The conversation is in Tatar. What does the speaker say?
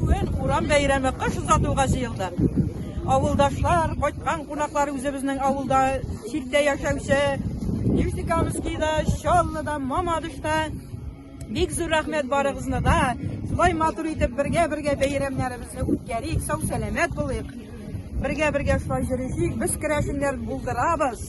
Бүген урам бәйрәме кыш озатуга җыелды. Авылдашлар, кайткан кунаклар үзебезнең авылда читтә яшәүче Юсикамскийда, Чаллыда, Мамадышта Бик зур рәхмәт барыгызны да. Шулай матур итеп бергә-бергә бәйрәмнәребезне үткәрик, сау сәламәт булыйк. Бергә-бергә шулай йөришик, без керәшеннәр булдырабыз.